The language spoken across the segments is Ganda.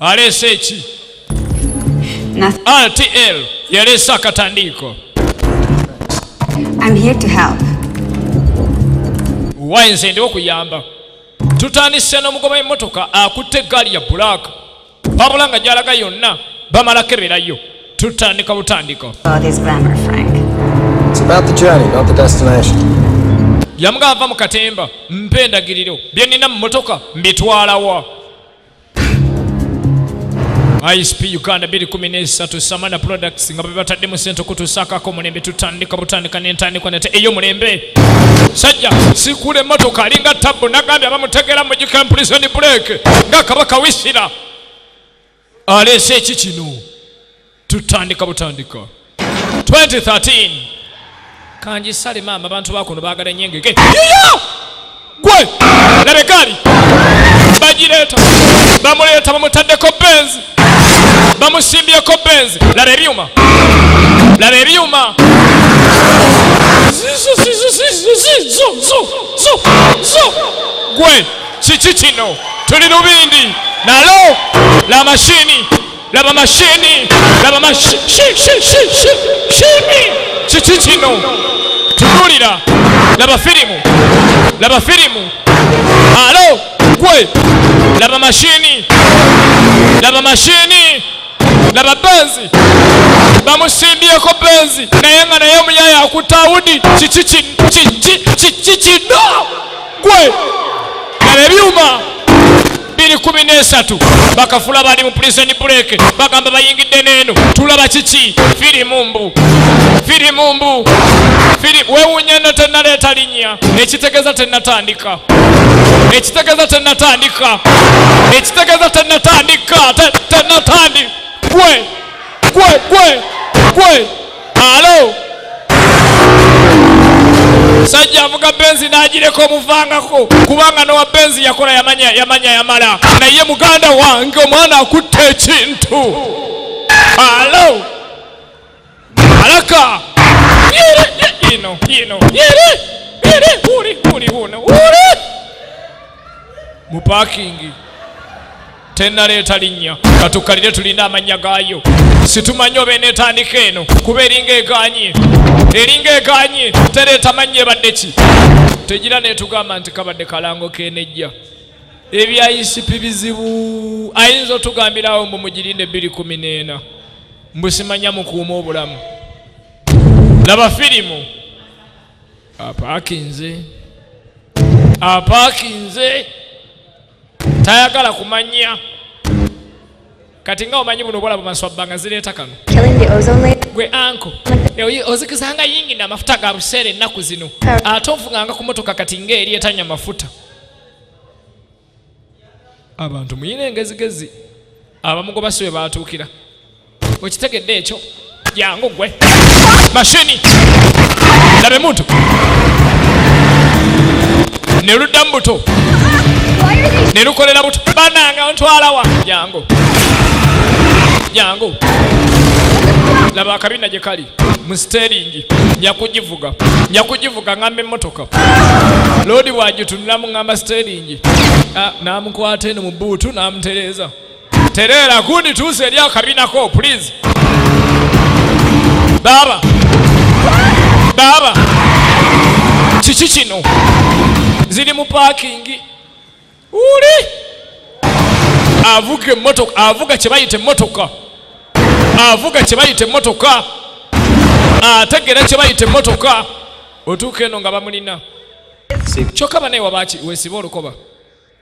aleese eki rtl yaleese akatandiiko wayi nze ndiwo kuyamba tutandise n'omugoba w'emmotoka akutte eggaali ya bulaaka wabula nga gyalaga yonna bamala keberayo tutandika butandika yamugamba mu katemba mpa endagiriro bye nnina mu mmotoka mbitwalawa ISP Uganda 2013 Samana Products nga bebatadde mu sente okutuusaakako omulembe tutandika butandika n'entandikwa nate ey'omulembe sajja sikuula emmotoka alinga tabbu nagambye abamutegera mu gikira prison break nga kabaka wisira aleese eki kino tutandika butandika 2013 kanjisale maama abantu bakuno bagala enyengege gwe labekaali bagireeta bamuleeta bamutaddeko benzi bamusimbyeko benzi laba ebyuma laba ebyuma gwe kiki kino tuli lubindi nalo la mashini laba mashini laba mashini kiki kino tunuulira laba firimu laba firimu alo gwe laba mashini laba mashini laba benzi bamusimbyeko benzi naye nga naye omuyaya akutawudi kiki kino gwe laba ebyuma biri kumi n'esatu bakafula bali mu prison break bagamba bayingidde n'eno tulaba kiki firimu mbu firimu mbu wewunya no tenaleeta linnya ekitegeza tenatandika ekitegeza tenatandika ekitegeza tenatandika tenatandi gwe gwe gwe gwe alo musajja avuga benzi n'agireka omuvangako kubanga nowa benzi yakola yamanya yamanya yamala naye muganda wange omwana akutte ekintu alo alaka ino ino uli uli uno uli mu pakingi tennaleeta linnya katukkalire tulina amannya gaayo situmanyi oba eneetandika eno kuba eringa eganye eringa eganye tereeta mannya ebadde ki tegira netugamba nti kabadde kalango kenejja ebyayisipi bizibu ayinza otugambirawo mbu mugirinde bbiri kumi neena mbusimanya mukuuma obulamu laba firimu apaakinze apaakinze tayagala kumanya kati nga omanyi buno obwala bumaswabba nga zireeta kano gwe anko ozikizanga yingi namafuta ga buseera ennaku zino ate ovuganga ku motoka kati ngaeri etanya mafuta abantu muyina engezigezi abamugoba si we batuukira okitegedde ekyo jangu gwe mashini labe muntu ne ludda mu buto ne lukolera buto bananga ontwalawa jangu jangu laba akabina gye kali mu siteringi nyakugivuga nyakugivuga ngamba emmotoka loodi bwagitunulamu ngamba siteringi ah, namukwata eno mu buutu namutereeza Tereera gundi tuuze eri akabinako please. Baaba. Baaba. Kiki kino? Ziri mu paakingi. Uli. Avuga emmotoka, avuga kye bayita emmotoka. Avuga kye bayita emmotoka. Ategeera kye bayita emmotoka. Otuuka eno nga bamulina. Kyokka banaye waba wesiba olukoba.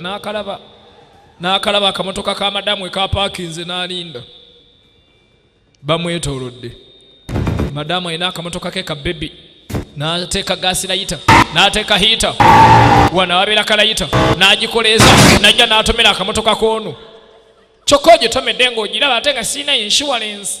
n'akalaba n'akalaba akamotoka ka madamu ekapaakinze n'alinda bamwetoolodde madamu alina akamotoka ke ka bebi n'ateeka gaasi layita n'ateeka hiita wana wabeera kalayita n'agikoleeza najja n'atomera akamotoka k'ono kyokka ogitomedde ng'ogiraba ate nga sirina inshuwalensi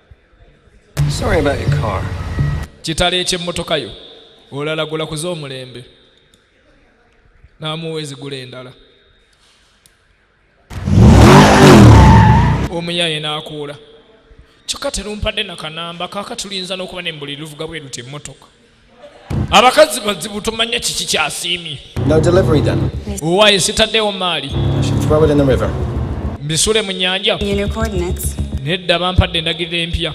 Sorry about your car. Kitalo eky'emmotoka yo olalagula kuze omulembe n'amuwa ezigula endala omuyaye n'akuula kyokka terumpadde nakanamba kaaka tulinza n'okuba ne mbuli luvuga bwe luti emmotoka abakazi bazibu tumanya kiki kyasiimye owaaye sitaddewo maali mbisule mu nyanja nedda bampadde endagiriro empya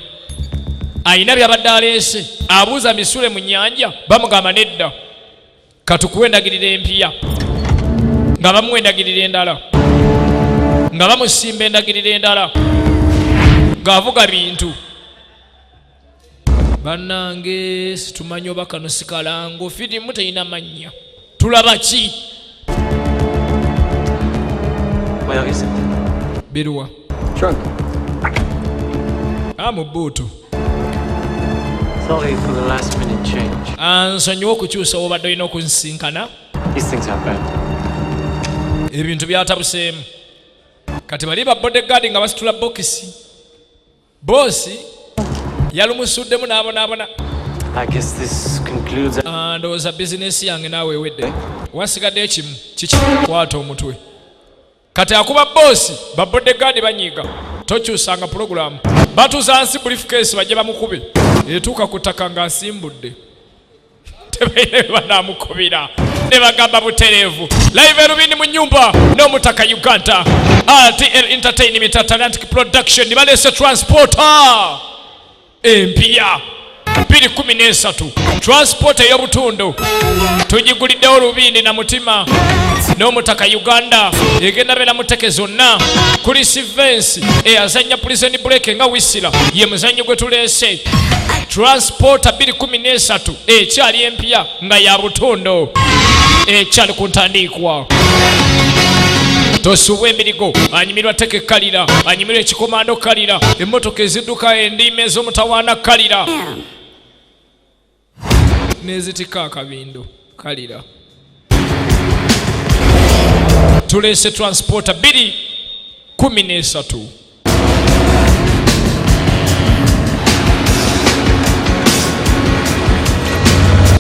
alina byabadde aleese abuuza misule mu nyanja bamugamba nedda katukuwa endagiriro empiya nga bamuwa endagiriro endala nga bamusimba endagiriro endala ng'avuga bintu banange situmanya oba kano sikalango firimu terina mannya tulaba ki biruwa ah, mu buutu ansonyiwa ah, okukyusa wobadde olina okunsinkana ebintu byatabuseemu kati bali ba bodegaadi nga basitula bokisi Boosi yalumusuddemu n'abonaabona. Ah, ndowooza bizinesi yange naawe ewedde eh? wasigadde ekimu kiki kwata omutwe kati akuba boosi babodde gaadi banyiiga tokyusanga pulogulaamu batuza nsi bulifukeesi bajje bamukube etuuka ku ttaka ng'asimbudde tebalina bebanamukubira nebagamba butereevu live erubindi mu nyumba n'omutaka uganda rtl entertainment atlantic production baleese transporter empiya 213 transport ey'obutundu tugiguliddewo lubindi na mutima n'omutaka uganda egenda beera muteke zonna kuli sivensi eyazannya pulizeni buleke nga wisira ye muzannyo gwe tuleese Transporter 213 ekyali empya nga ya butondo ekyali ku ntandiikwa tosubwa emirigo anyumirwa teke kalira anyumirwa ekikomando kalira emmotoka ezidduka endiima ez'omutawaana kalira nezitika akabindo yeah. kalira tuleese transporta bbiri kumi n'esatu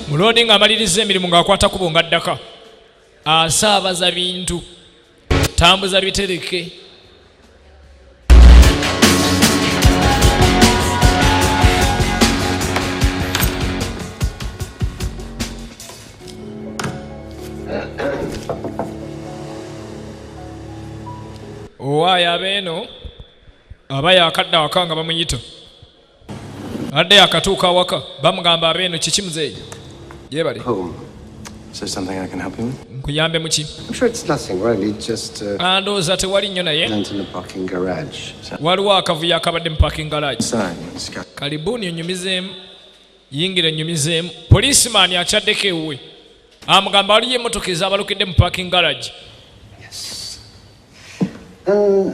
muloodi ng'amaliriza emirimu ng'akwata kubo nga ddaka asaabaza bintu tambuza bitereke owaayo abeeno aba yakadda waka nga bamuyita Adde akatuuka awaka bamugamba abeeno kiki muzeeyi yebale oh, nkuyambe muki andowooza tewali nnyo naye waliwo akavuyo akabadde mu parking garage kalibuuni onyumizeemu yingira enyumizeemu poliisimaani akyaddeko ewuwe amugamba waliyo emotoka ezabalukidde mu parking garage uh,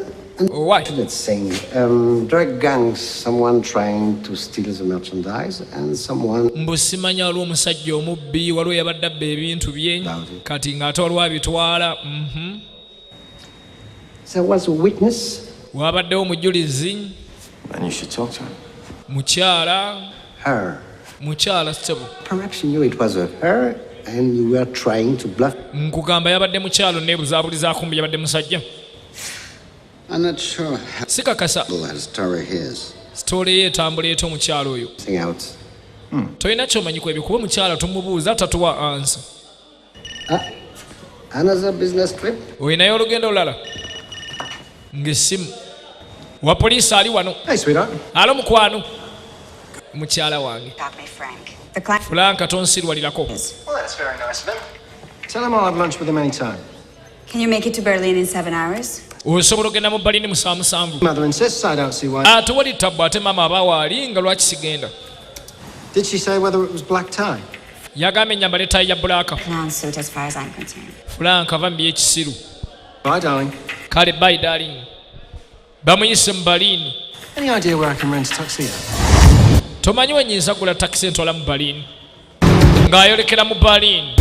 Why? Let's say, um, drug gangs, someone trying to steal the merchandise and someone... Mbu simanya waliwo omusajja omubbi waliwo yabadde abba ebintu bye kati ng'ate waliwo abitwala mm-hmm. There was a witness. Waabaddewo omujulizi. And you should talk to him. Mukyala. Her. Mukyala ssebo. Perhaps you knew it was her and you were trying to bluff. Nkugamba yabadde mukyalo neebuzabuliza kumbi yabadde musajja. I'm not sure. Sikakasa. Story his. Story ye etambula eto omukyalo oyo. Sing out. Hmm. Tolina kyomanyiko ebyo kuba omukyala tumubuuza tatuwa ansa. olinayo olugendo olulala ng'essimu wa poliisi ali wano alo mukwano mukyala wange fulanka tonsirwalirako Can you make it to Berlin in seven hours? osobola ogenda mu balini musaa musanvu ah, tewali tabbu ate maama aba waali nga lwaki sigenda yagamba enyamba netayi ya bulaaka fulanka va mu byekisiru kale bayi darling bamuyise mu baliini tomanyi wenyinza gula takisi entwala mu baliini ng'ayolekera mu baliini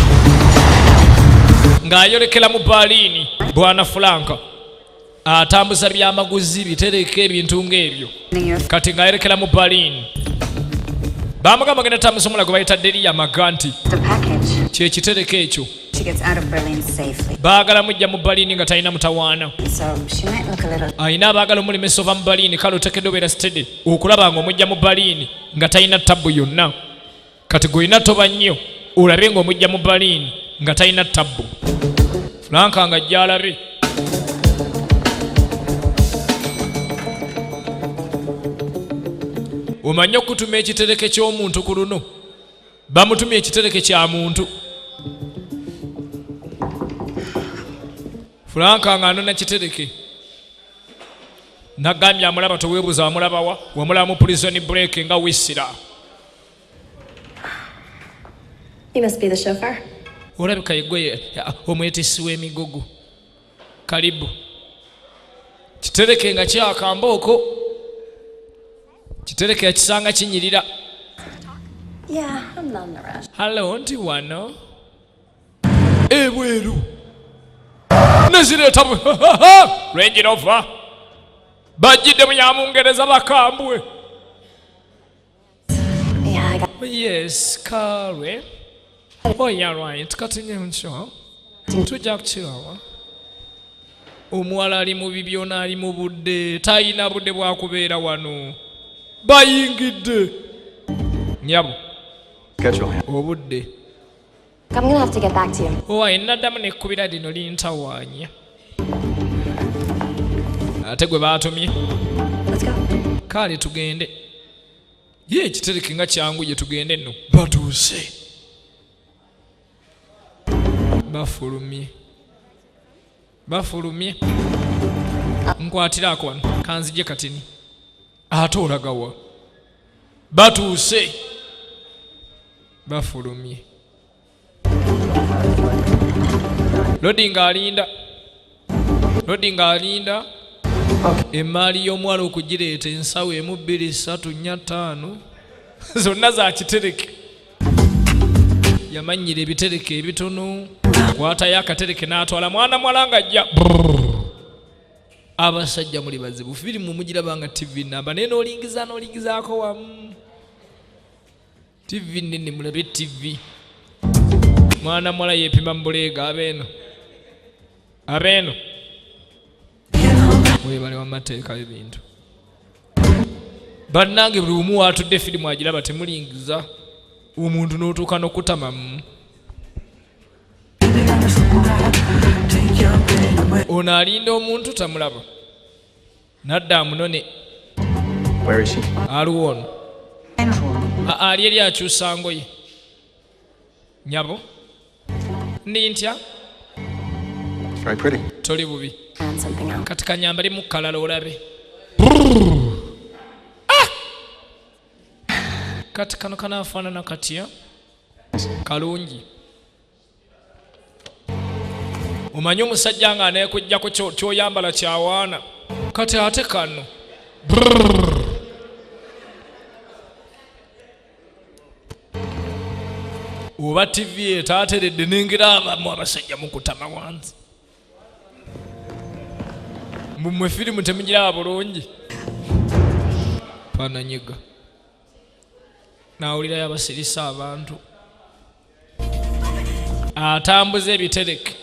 ng'ayolekera mu baliini bwana fulanka atambuza byamaguzi bitereka ebintu ng'ebyo kati ng'ayolekera mu baliini bamugamba genda tambuza omulago bayita deriya maga nti kyekitereka ekyo baagala mujja mu baliini nga talina mutawaana alina abaagala omulemesa ova mu baliini kale otekedde obeera sitede okulaba nga omujja mu baliini nga talina tabbu yonna kati gwolina toba nnyo olabe nga omujja mu baliini nga talina tabbu fulanka nga gyalabe omanye okutuma ekitereke ky'omuntu ku luno bamutumye ekitereke kya muntu fulanka nga anona kitereke nagambye amulaba tewebuza wamulabawa wamulaba mu prison break nga wisira olabika yegwe omwetisi w'emigogo kalibu kitereke nga kyakamba oko kitereke yakisanga kinyirira halo nti wano ebweru nezireeta lwenjirova bajjidde mu yamungereza bakambwe yes kalwe oh yeah right kati nye nkyo tujja kukiraba omuwala ali mu bibyona ali mu budde talina budde bwakubeera wano bayingidde nyabo obudde I'm gonna have to get back to you. Owaye naddamu nekkubira lino lintawaanya ate gwe baatumye kaale tugende ye ekitereke nga kyangu gye tugende nno batuuse bafulumye bafulumye nkwatiraako wano kanzije katini ate olagawa batuuse bafulumye lodi nga alinda lodi nga alinda emaali y'omuwala okugireeta ensawo emu bbiri ssatu nnya ttaano zonna zakitereke yamannyira ebitereke ebitono kwatayo akatereke n'atwala mwana mwala nga ajja abasajja muli bazibu firi mumugiraba nga tv namba naye nolingiza nolingizaako wamu tv nene mulabe tv mwana mwala yepima mubuleega abeeno abeeno webale wamateekayo ebintu bannange buli umu watudde firimu agiraba temulingiza omuntu n'otuuka n'okutamamu ono alinda omuntu tamulaba nadda amunone aliwo ono ali eri akyusa ngoye nyabo ndi ntya toli bubi kati kanyambali mukalala olabe ah! kati kano kanafaanana katya kalungi omanyi omusajja nga anekujjako kyoyambala kyawaana kati ate kano Brrr. oba tivi etaateredde nengera abamu abasajja mukutama wansi mumwe firimu temugiraba bulungi pananyiga nawulirayo abasirisa abantu atambuza ebitereke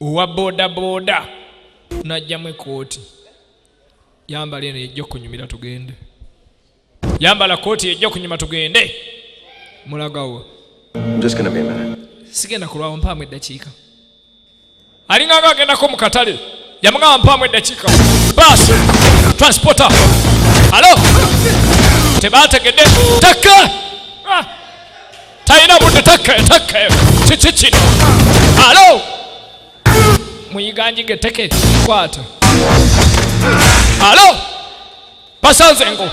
owa bodaboda tunajjamu ekooti yambala eno yejja okunyumira tugende yambala kooti yejja okunyuma tugende mulagawo sigenda kulwawo mpaamu eddakiika alinganga agendako mu katale yamugamba mpaamu eddakiika baasi transporta alo tebategedde takka ah! talina budde teketeke kiki kino alo muyiganjige teke kwata alo basanze ngo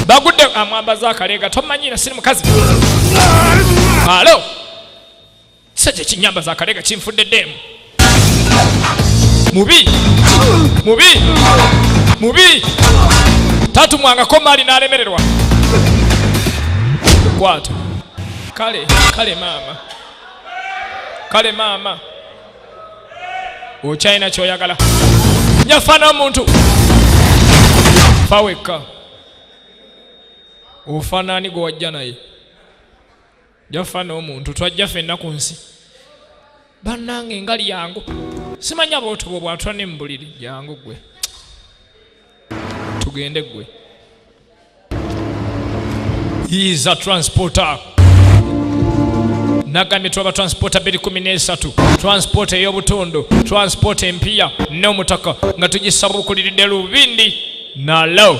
bagudde amwambaza akaleega tomanyira siri mukazi alo kisajja ekinyamba za kalega kinfudde deemu mubi mubi mubi tatumwangako maali n'alemererwa kwata kale kale maama kale maama okyalina kyoyagala nyafaana omuntu fawekka ofaanaani gwe wajja naye jaffa n'omuntu twajja fenna ku nsi bannange nga lyangu simanya bootobo bwatula ne mubuliri jangu gwe tugende gwe yiza transporter nagambye tulaba transporta biri kumi n'esatu transporta ey'obutundu transporta empiya n'omutaka nga tugisabuukuliridde lubindi nalo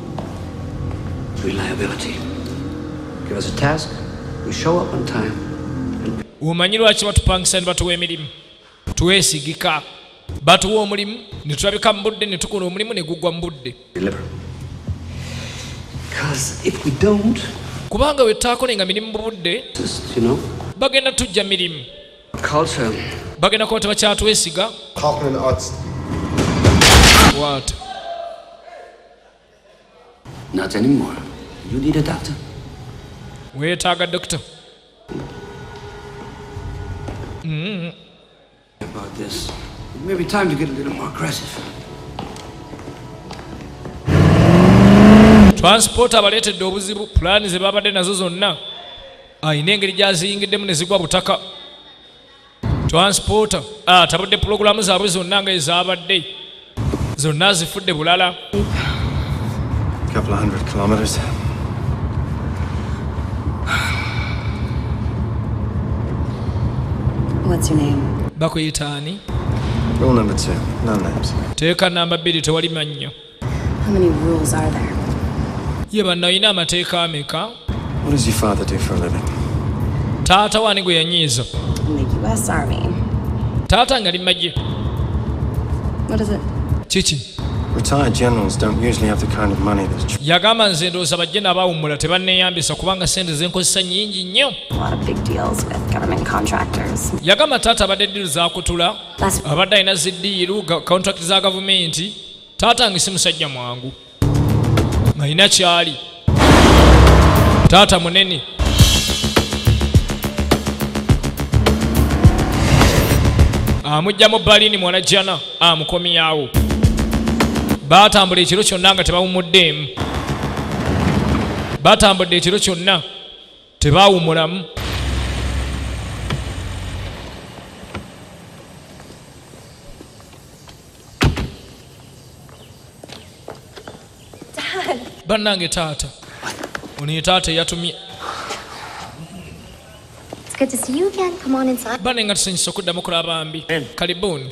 Reliability. Give us a task, we show up on time. Omanyi lwaki batupangisa ne batuwa emirimu? Twesigika. Batuwa omulimu ne tulabika mu budde ne tukola omulimu ne gugwa mu budde. Kubanga bwe tutaakolenga mirimu mu budde, bagenda tujja mirimu. Bagenda kuba tebakyatwesiga. What? Not anymore. You need a doctor. Weetaaga doctor. Mm. About this. It may be time to get a little more aggressive. Transport abaleetedde obuzibu pulaani ze baabadde nazo zonna alina ah, engeri gy'aziyingiddemu ne zigwa butaka transporter ah, tabudde pulogulaamu zaabwe zonna nga ezaabadde zonna zifudde bulala bakuyitaani teeka namba bbiri tewali mannyo ye banna olina amateeka ameka taata wani gwe yanyiiza taata nga limagye kiki yagamba nze ndowooza bajjena abawummula tebanneeyambisa kubanga sente zenkozesa nyingi nnyo yagamba taata abadde ddiru zakutula abadde alina ziddiiru kontrakiti za gavumenti taata nge si musajja mwangu ngalina kyali taata munene amujja mu balini mwana jana amukomyawo batambula ekiro kyonna nga tebawumuddeemu batambudde ekiro kyonna tebaawumulamu bannange taata ono ye taata eyatumye bane nga tusanyusa okuddamu kulaba bambi kalibuni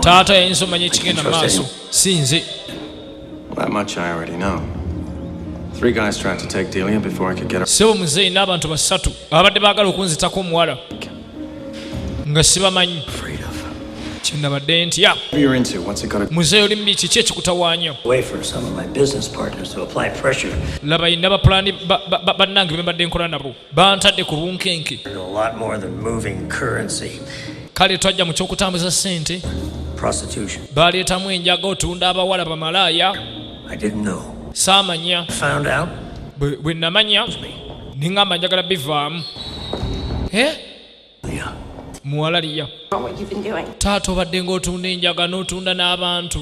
taata yayinza omanya ekigenda maaso si nze sebo muzeeyi n'abantu basatu ababadde baagala okunzitako omuwala nga sibamanyi kyenabadde ntya muzeeyi oli mubi kiki ekikutawaanya laba yina bapulani bannange bembadde nkola nabo bantadde ku bunkenke kale twajja mu kyokutambuza ssente baleetamu enjaga otunda abawala bamalaaya saamanya bwe namanya ningamba njagala bivaamu eh? muwala liya taata obadde ng'otunda enjaga n'otunda n'abantu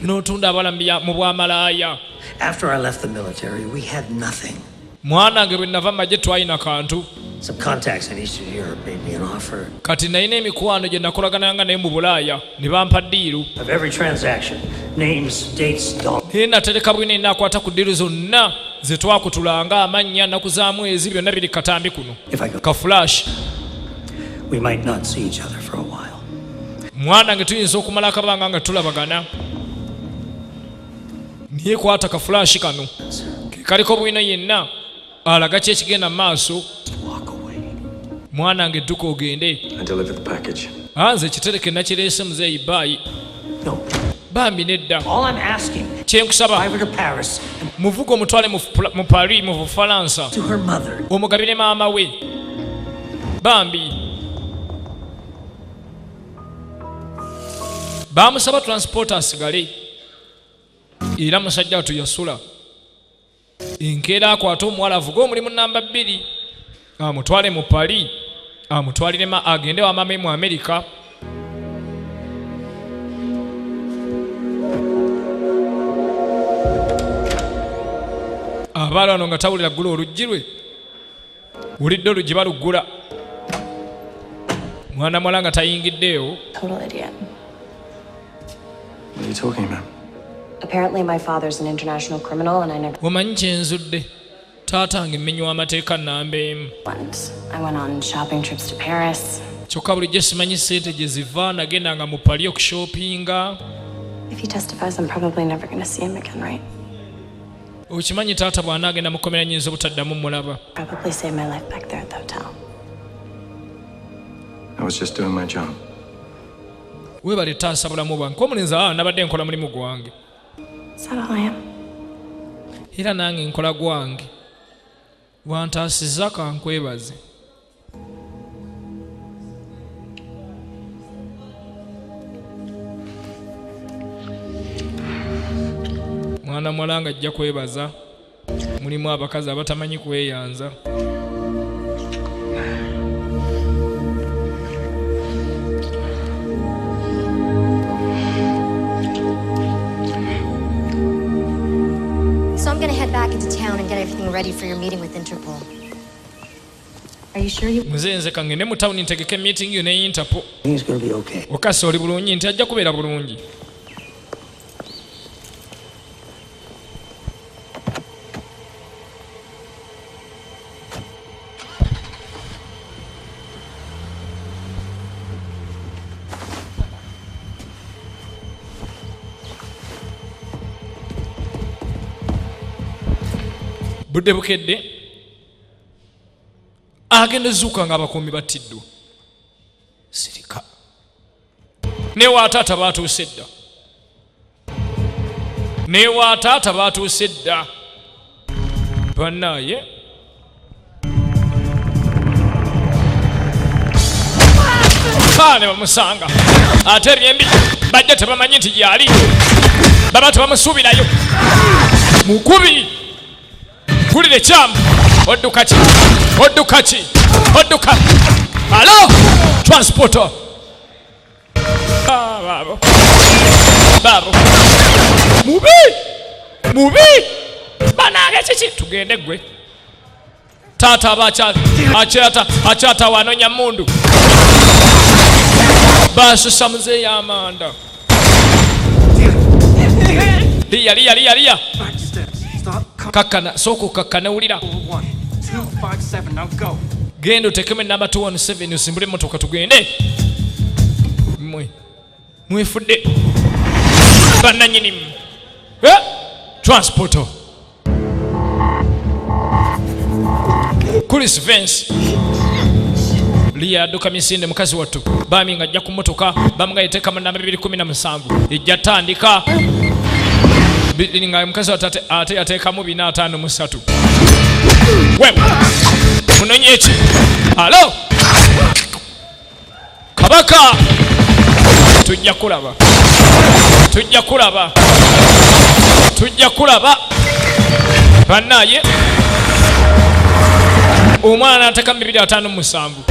n'otunda abalambi mu bwamalaaya mwana nge bwe nava magye twalina kantu kati nalina emikwano gye nakolagananga naye mu bulaaya ne bampa ddiiru naye natereka bwina enakwata ku ddiiru zonna ze twakutulanga amannya naku za mwezi byonna biri katambi kuno ka flash mwana nge tuyinza okumala akabanga nga tulabagana naye kwata ka flash kano kekaliko bwino yenna alaga ki ekigenda mu maaso mwana nge dduka ogende anze ekitereke nakireese muzeeyi baayi bambi nedda kyenkusaba muvuga omutwale mu paris mu bufalansa omugabire maama we bambi bamusaba transport asigale era musajja watu yasula enkeera akwate omuwala avuge omulimu namba bbiri amutwale mu pali amutwalire ma agende wamame mu amerika abaala wano nga tawulira ggula oluggi lwe wulidde oluggi baluggula mwana mwala nga tayingiddeewo omanyi kyenzudde taata nga emmenywa amateeka namba emu kyokka bulijjo simanyi sente gye ziva nagenda nga mu pali okushopinga If he testifies, I'm probably never going to see him again, right? okimanyi taata bw'anaagenda mu kkomera nyinza obutaddamu mulaba weebale taasa bulamu bwange kuba omulinzi aa ah, nabadde nkola mulimu gwange era nange nkola gwange wantaasiza kankwebaze mwana muwala nga ajja kwebaza mulimu abakazi abatamanyi kweyanza Ready for your meeting with Interpol. Are you sure you... Mzee nze kangende mu town ntegeke meeting yo ne Interpol. Things gonna be okay. Okasa oli bulungi nti ajja kubeera bulungi. budde bukedde agenda ezuuka nga abakuumi battiddwa sirika newa taata batuuse dda newa taata batuuse dda banaye ne bamusanga ate ebyembi bajja tebamanyi nti gyali baba tebamusuubirayo mukubi Mpulira ekyamu. Odduka ki? Odduka ki? Odduka. Alo! Transporter. Ah, babo. Babo. Mubi! Mubi! Banange kiki? Tugende gwe. Tata abacha achata achata wanonya mundu. Basusa mzee ya amanda. Liya, liya, liya, liya. Kakkana, sooka okakkane wulira. Genda otekemu enamba 217 osimbule emmotoka tugende. Mwe. Mwefudde. Bannanyinimu. Eh? Transporter. Chris Vance liyaduka misinde mukazi wattu bami nga ajja ku mmotoka bamu nga yeteeka mu namba bibiri kumi na musanvu ejja tandika nga mukazi wattu ate yateekamu bina ataano mu ssatu munonye eki alo kabaka tujja kulaba tujja kulaba tujja kulaba banaye omwana nateka mibiri atano musanvu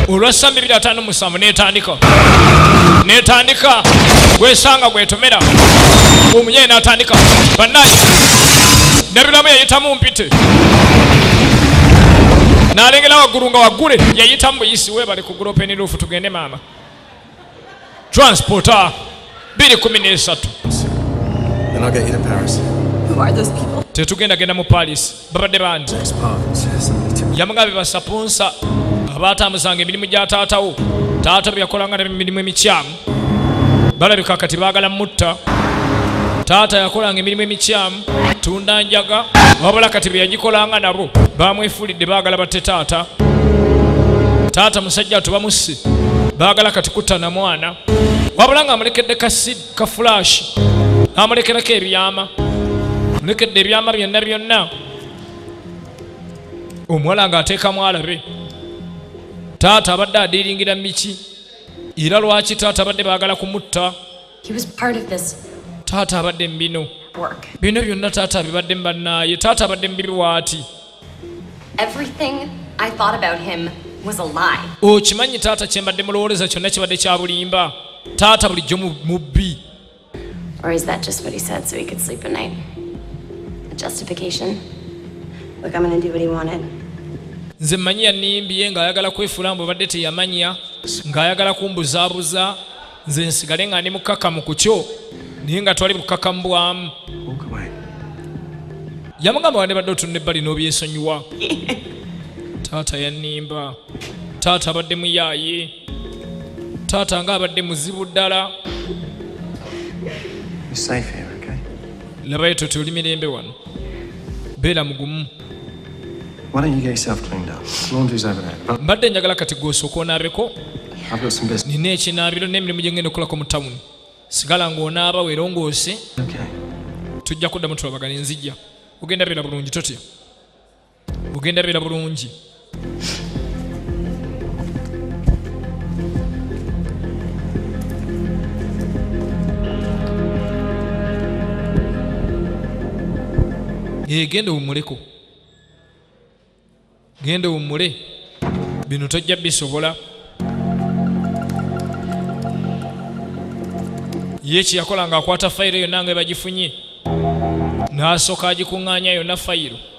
olwassa mibiri atano musanvu netandika netandika gwesanga gwetomera omunyaye natandika banaye nebiramu yayitamu mpite nalengera waggulu nga waggule yayitamu buyisi Webale ku group ni roof tugende mama. Transporter biri kumi n'esatu. Then I'll get you to Paris. Who are those people? Tetugenda genda mu Paris. Babadde bandi. Yamugabe basaponsa abaatambuzanga emirimu gya taatawo taata bwe yakolanga ne mirimu emikyamu balabika kati baagala mutta taata yakolanga emirimu emikyamu tunda njaga wabula kati bye yagikolanga nabo bamwefulidde baagala batte taata taata musajja atu bamusse baagala kati kutta na mwana wabula nga amulekedde kasid ka fulashi amulekerako ebyama mulekedde ebyama byonna byonna omuwala ng'ateekamu alabe taata abadde adiiringira miki era lwaki taata abadde baagala kumutta taata abadde mu bino bino byonna taata abibadde mu bannaaye taata abadde mu bibiwaati okimanyi taata kyembadde mulowooleza kyonna kibadde kya bulimba taata bulijjo mubbi Or is that just what he said so he could sleep at night? A justification? Look, I'm gonna do what he wanted. nze mmanyi yannimbye ng'ayagala kwefuula mbu obadde teyamanya ng'ayagala kumbuzaabuza nze nsigale nga ndi mukkakamu ku kyo naye nga twali bukkakamu bwamu yamugamba wande badde otunula ebbali n'obyesonyiwa taata yannimba taata abadde muyaaye taata nga abadde muzibu ddala labayo toti oli mirembe wano beera mugumu mbadde njagala kati gwosooka onaabeko nina ekinaabiro n'emirimu gye ngenda okolako mu tawuni sigala ng'onaaba werongoose tujja kuddamu tulabagana enzijja ogenda beera bulungi totya ogenda beera bulungi egenda eh, owummuleko genda owummule bino tojja bisobola ye kyeyakola nga akwata fayiro yonna nga ebagifunye n'asooka agikuŋŋaanya yonna fayiro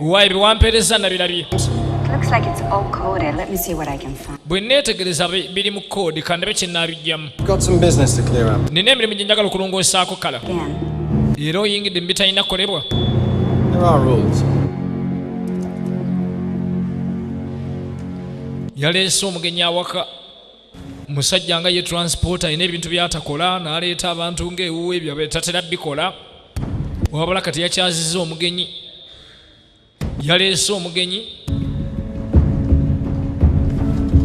waibi wampeereza nabirabye bwe neetegereza biri mu koodi kandabe kye nnaabijjamu nina emirimu gye njagala okulongoosaako kala era oyingidde mu bitalina kukolebwa yaleese omugenyi awaka musajja nga ye transport alina ebintu byatakola naleeta abantu ngaewuwe ebyo tatera bikola wabula kati yakyaziza omugenyi yaleese omugenyi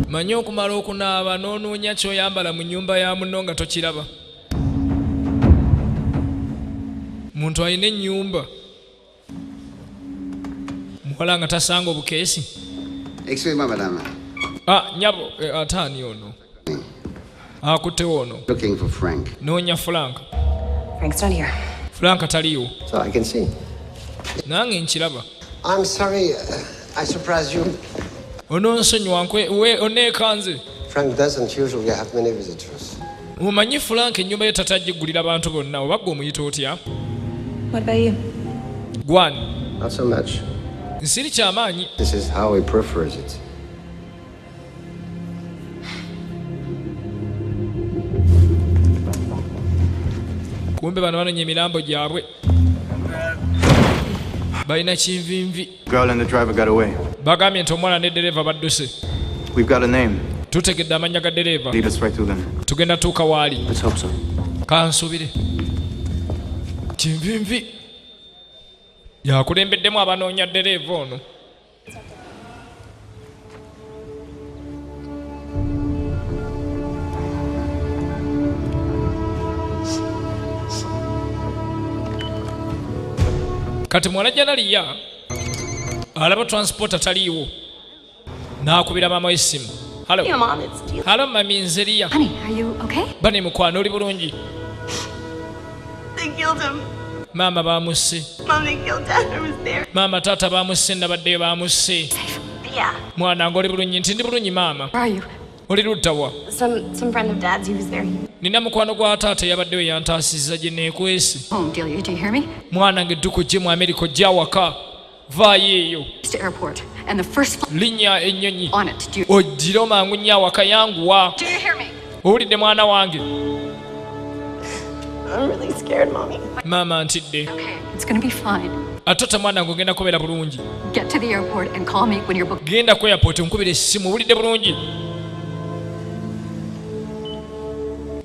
manya okumala okunaaba n'onoonya kyoyambala mu nyumba ya muno nga tokiraba muntu alina ennyumba muwala nga tasanga obukeesi ah, nyabo eh, ataani ono akutewo ono noonya frank frank taliwo nange nkiraba ononsonyiwa oneekanze omanyi frank ennyumba yo tata gigulira bantu bonna oba gwe omuyita otya gwani nsiri kyamaanyi kumbe bano banonya emilambo gyabwe balina kinvinvi bagambye nti omwana ne dereeva badduse tutegedde amannya ga dereeva tugenda tuuka waali kansubire kinvinvi yakulembeddemu abanoonya dereeva ono kati muwala janaliya alaba transport ataliiwo n'akubira maama w'essimu halo halo mami nzeriya bane mukwano oli bulungi maama baamusse maama taata baamusse nabaddeyo baamusse mwana nga oli bulungi nti ndi bulungi maama oli luddawa nina mukwano gwa taata eyabaddeyo yantaasiza gye neekwese oh, mwana nga edduka ojje mu amerika ojje awaka vaayo linnya ennyonyi ojjire omangu nnyo awaka yanguwa owulidde mwana wange maama ntidde ate ota mwana nge ogenda kubeera bulungi genda ku airport nkubira essimu owulidde bulungi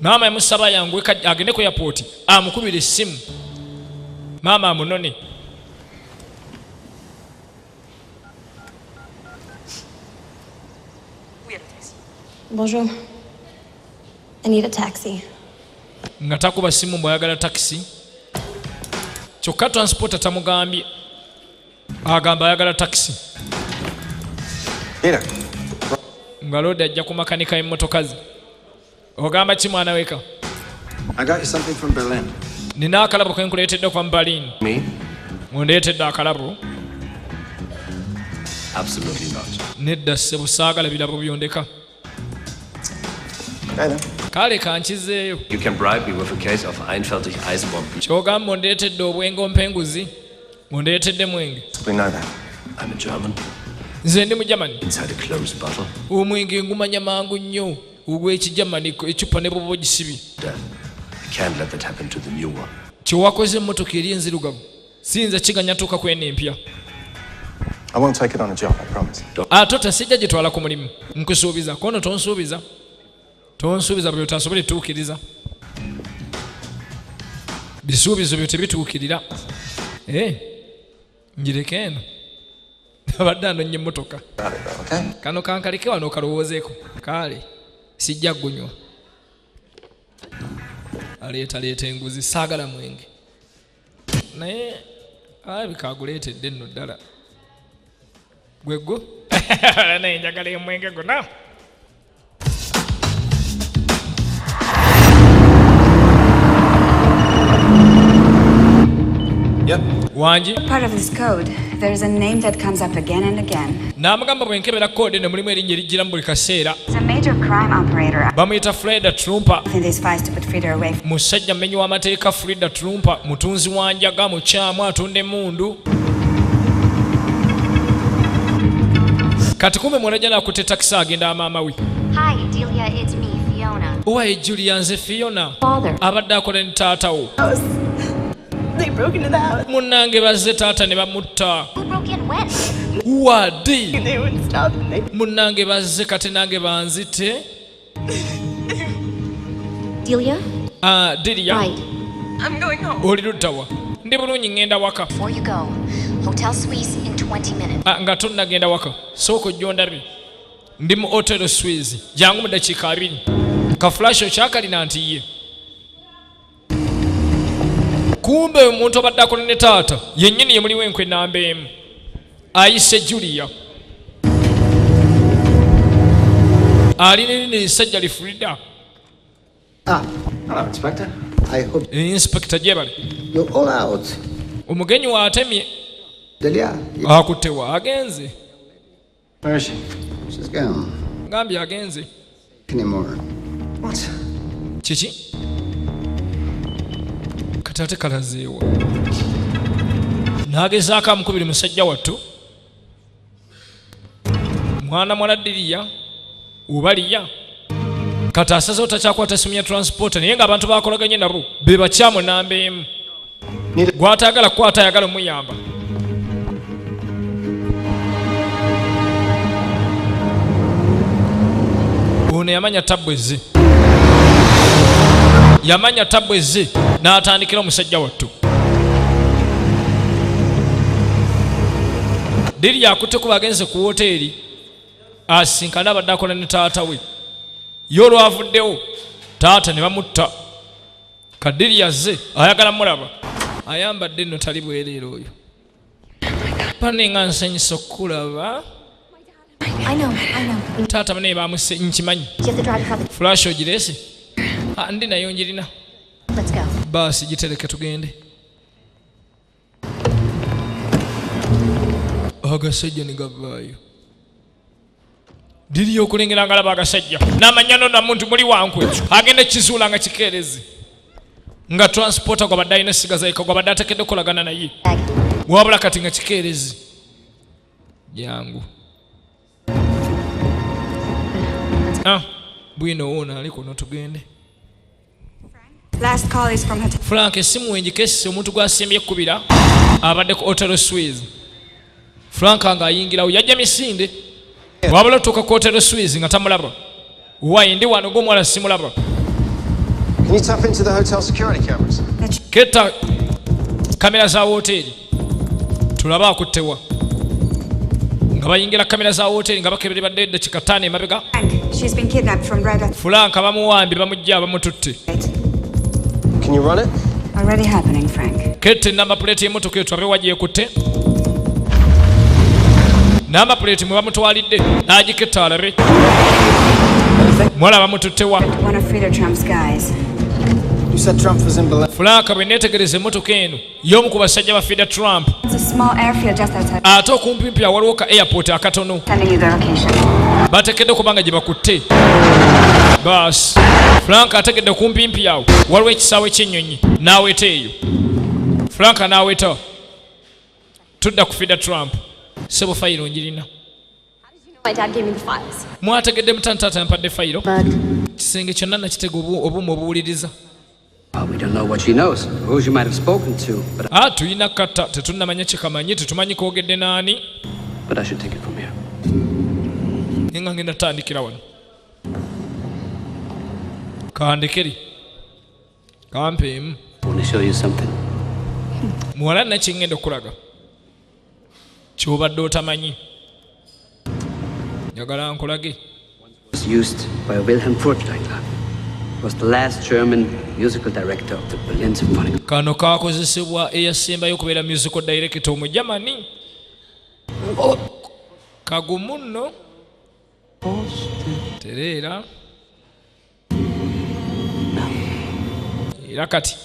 maama yamusaba yangu agende ku airport amukubira essimu maama amunone Bonjour. I need a taxi. nga takuba simu bwayagala takisi kyokka transporta tamugambye agamba ayagala takisi nga loodi ajja ku makanika y'emmotoka ze ogamba ki mwana weka nina akalabo ke nkuleetedde okuva mu berlin ngundeetedde akalabo nedda ssebo saagala birabo byondeka kale kankizeeyo kyogamba ondeetedde obwenge ompenguzi ondeetedde mwenge nze ndi mu germany omwenge ngumanya mangu nnyo ogw'ekijamaniko ecupa ne bwoba ogisibi kyewakoze emmotoka eri enzirugavu siyinza kiganya tuuka kwena empya ate otasijja gitwala ku mulimu nkusuubiza kono tonsuubiza tonsuubiza buli otasobola etuukiriza bisuubizo byo tebituukirira eh. njireke eno abadde anonye emmotoka kano kankaleke wano okalowoozeeko kaale sijja gunywa aleetaleeta enguzi saagala mwenge naye alabika aguleetedde nno ddala gwegwo naye njagala emwenge gona Yep. Wangi. Part of this code, there is a name that comes up again and again. N'amugamba bwe nkebera code eno mulimu erinnya erijjira mu buli kaseera. It's a major crime operator. Bamuyita Freda Trumpa. In these files to put Frida away. Musajja mmenyi w'amateeka Frida Trumpa, mutunzi wa njaga, mukyamu, atunda emmundu. kati kumbe mwanajana akutte takisi agenda amaamawi owaye julia nze fiona abadde akola ne taatawo munnange bazze taata ne bamutta wadi munnange bazze kati nange banzite Delia? Uh, Delia. Right. I'm going home. Oli luddawa? Ndi bulungi ngenda waka. Before you go, hotel Swiss in 20 minutes. Ah, nga tonnagenda waka. Sooka ojja ondabe. Ndi mu hotel Swiss. Jangu mu dakiika abiri. Ka flash okyakalina nti ye. kumbe omuntu obadde akola ne taata yennyini yemuliwo enkwe namba emu ayise julia ali nirina esajja lifurida ah, inspekita gyebali omugenyi waatemye akutewa agenze ngambye agenze kiki kati ate kalazeewa nagezaako amukubiri musajja wattu mwana mwana diriya ubaliya kati asazewo takyakwata simu ya transport naye nga abantu bakolaganye nabo be bakyamu namba emu gwatayagala kukwata ayagala omuyamba ono yamanya tabbu ezze yamanya tabbu ezze n'atandikira omusajja wattu diri yakutte kuba agenze ku woteeri asinkane abadde akola ne taata we ye olwavuddewo taata ne bamutta kadiri yazze ayagala mulaba ayambadde nno tali bwereera oyo pane nga nsanyisa okukulaba taata banaye bamuse nkimanyi fulash ogirese ah, ndi nayo ngirina baasi gitereke tugende agasajja ne gavaayo diri yokulengera nga laba agasajja namanya nona muntu muli wankwe agenda ekizuula nga kikeerezi nga transporta gwabadde alina essiga zaika gwabadde atekedde okukolagana naye wabula kati nga kikeerezi jangu Ah, bwino wona ali kuno tugende. Last call is from hotel. Frank esimu wenji kesi omuntu gwasimbye kubira abadde ku Hotel Swiss. Frank nga ayingirawo yajja misinde. Wabula tuka ku Hotel Swiss nga tamulaba. Why ndi wano gomwala simulaba. Can you tap into the hotel security cameras? Keta kamera za hoteli tulaba akuttewa nga bayingira kamera za hoteli nga bakebere badde edda kikataano emabega fulanka bamuwambye bamujja bamututte Can you run it? Already happening, Frank. Kete namba plate y'emmotoka etwabe wagyekutte namba plate mwe bamutwalidde n'agiketta alabe mwala bamututte wa fulaaka bwe neetegereza emmotoka eno y'omu ku basajja ba fida trump ate okumpimpi awaliwo ka airport akatono bategedde okuba nga gye bakutte bas frank ategedde kumpimpi awo waliwo ekisaawe ky'ennyonyi n'aweta eyo frank n'aweta tudda ku fida trump sebo fayiro ngirina mwategedde mutantata yampadde fayiro kisenge kyonna nakitega obuuma obuwuliriza Ah, tulina kata tetunnamanya kyekamanyi tetumanyi koogedde naani naye nga ngenda tandikira wano kandekeri kampeemu muwala nakye ngenda okulaga kyobadde otamanyi njagala nkulage used by Wilhelm Furtwängler was the last German musical director of the Berlin Symphony. Kano kakozesebwa eyasembayo okubeera musical director omu Germany. Oh. Kagumu nno. Tereera. era kati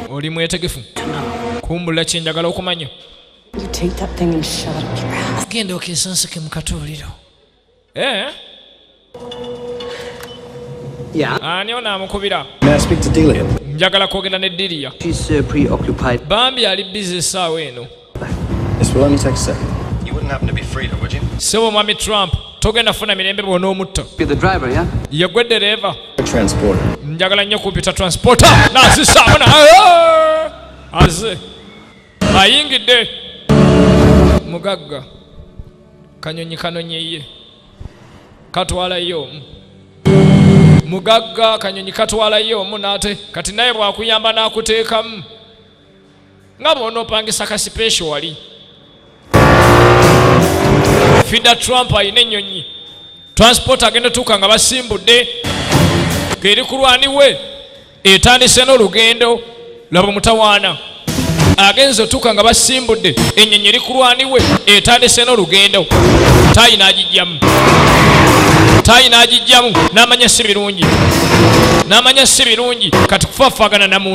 oli mwetegefu kumbula kyenjagala okumanya genda okesansike mu katuuliro eh? ani ono amukubira njagala kwogenda ne diriya bambi ali bizi esaawa eno Sebo mwami Trump togenda funa mirembe bwona omutto yegwe dereeva njagala nnyo kumpita transporter nazisaamu na aze ayingidde mugagga kanyonyi kanonyeye katwalayo omu mugagga kanyonyi katwalayo omu nate kati naye bwakuyamba nakuteekamu nga bwonopangisa kasipeesho wali fida trump alina ennyonyi transport agenda otuuka nga basimbudde ngeri kulwaniwe etandise n'olugendo laba omutawaana agenze otuuka nga basimbudde ennyonyi eri kulwaniwe etandise n'olugendo taayi n'agijjamu taayi n'agijjamu n'amanya si birungi n'amanya si birungi kati kufafaagana namu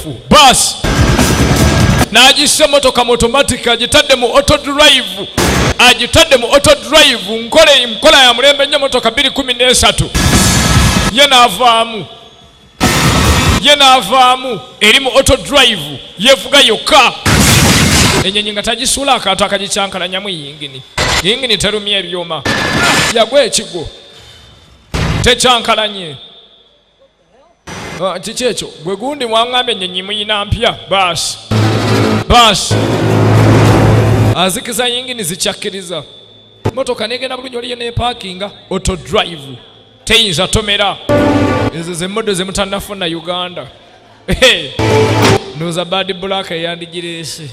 baasi n'agissa emmotoka mu otomatic agitadde mu auto drive agitadde mu auto drive nkola nkola ya mulembe nnyo emmotoka 213 ye n'avaamu ye n'avaamu eri mu auto drive yevuga yokka ennyonyi nga tagisuula akantu akagikyankalanyamu yingini yingini terumya ebyuma yagwa ekigwo tekyankalanye Ah, kiki ekyo gwe gundi mwangambye ennyonyi muyina mpya baasi baasi azikiza yingini zikyakkiriza motoka negenda bulungi oliyo nepakinga oto drive teyinza tomera ezo zemodo zemutanafuna uganda noza bad black eyandigireese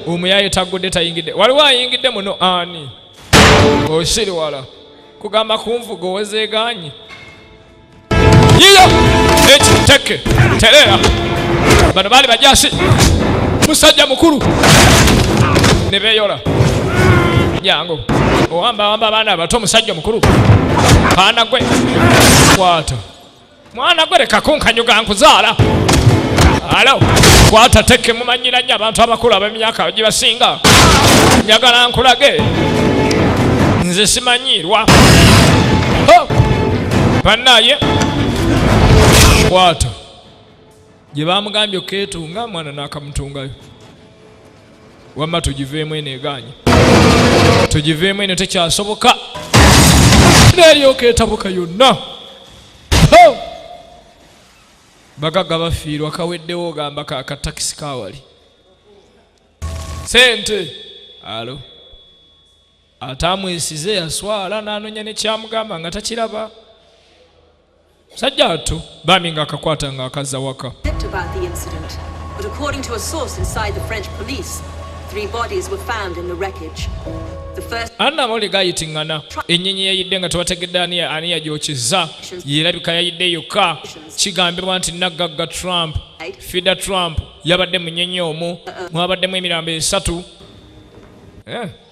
omuyaye taggudde tayingidde waliwo ayingidde muno ani osiriwala kugamba kunvuga owezeegaanyi yiyo ekiteke tereera bano baali bajasi musajja mukulu ne beeyola jangu owambawamba abaana abato omusajja omukulu kaana gwe kwata mwana gwe leka kunkanyuga nkuzaala alo kwata teke mumanyira nnyo abantu abakulu ab'emyaka gibasinga njagala nkulage nze simanyiirwa bannaye kwata gye baamugambye okukeetunga mwana n'akamutungayo wamma tugiveemu eno egaanyi tugiveemu eno tekyasoboka neryoka etabuka yonna bagagga bafiirwa kaweddewo ogamba kakatakisi kawali sente alo ataamwesize yaswala n'anoonya ne kyamugamba nga takiraba musajja atu bambi ng'akakwata ng'akazza waka But according to a source inside the French police, three bodies were found in the wreckage. anna mole gayitiŋŋana ennyonyi yayidde nga tebategedde ani yagyokizza yerabika yayidde yokka kigambibwa nti naggagga trump fida trump yabadde mu nnyonyi omu mwabaddemu emirambo esatu eh.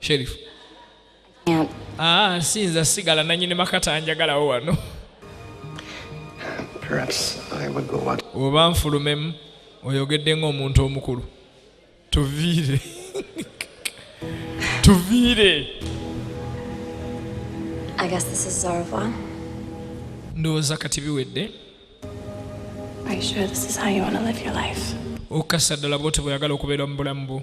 sherifu ah, sinza sigala nanyini makata njagalawo wano oba nfulumemu oyogedde ng'omuntu omukulu tuviire tuviire ndowooza kati biwedde okukasa ddala bwoti bweyagala okubeera mu bulamu bwo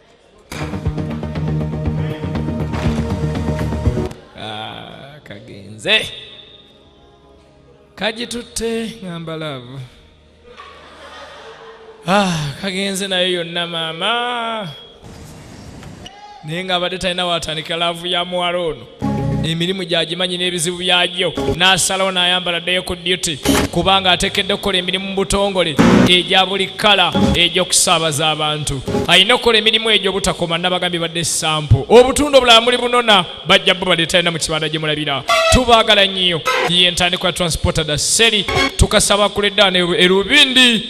Ah, kagenze kagitutte ngamba laavu ah, kagenze nayo yonna maama naye nga abadde talina watandika laavu ya muwala ono emirimu gyagimanyi n'ebizibu byagyo n'asalawo n'ayambala ddayo ku duty kubanga atekedde okukola emirimu mu butongole egya buli kkala egy'okusaabaza abantu alina okukola emirimu egyo obutakoma nabagambye badde sampo obutundu obulala muli bunona bajja bo baleetalina mu kibanda gye mulabira tubaagala nnyo yentandikwa transportada seri tukasaba kuledda erubindi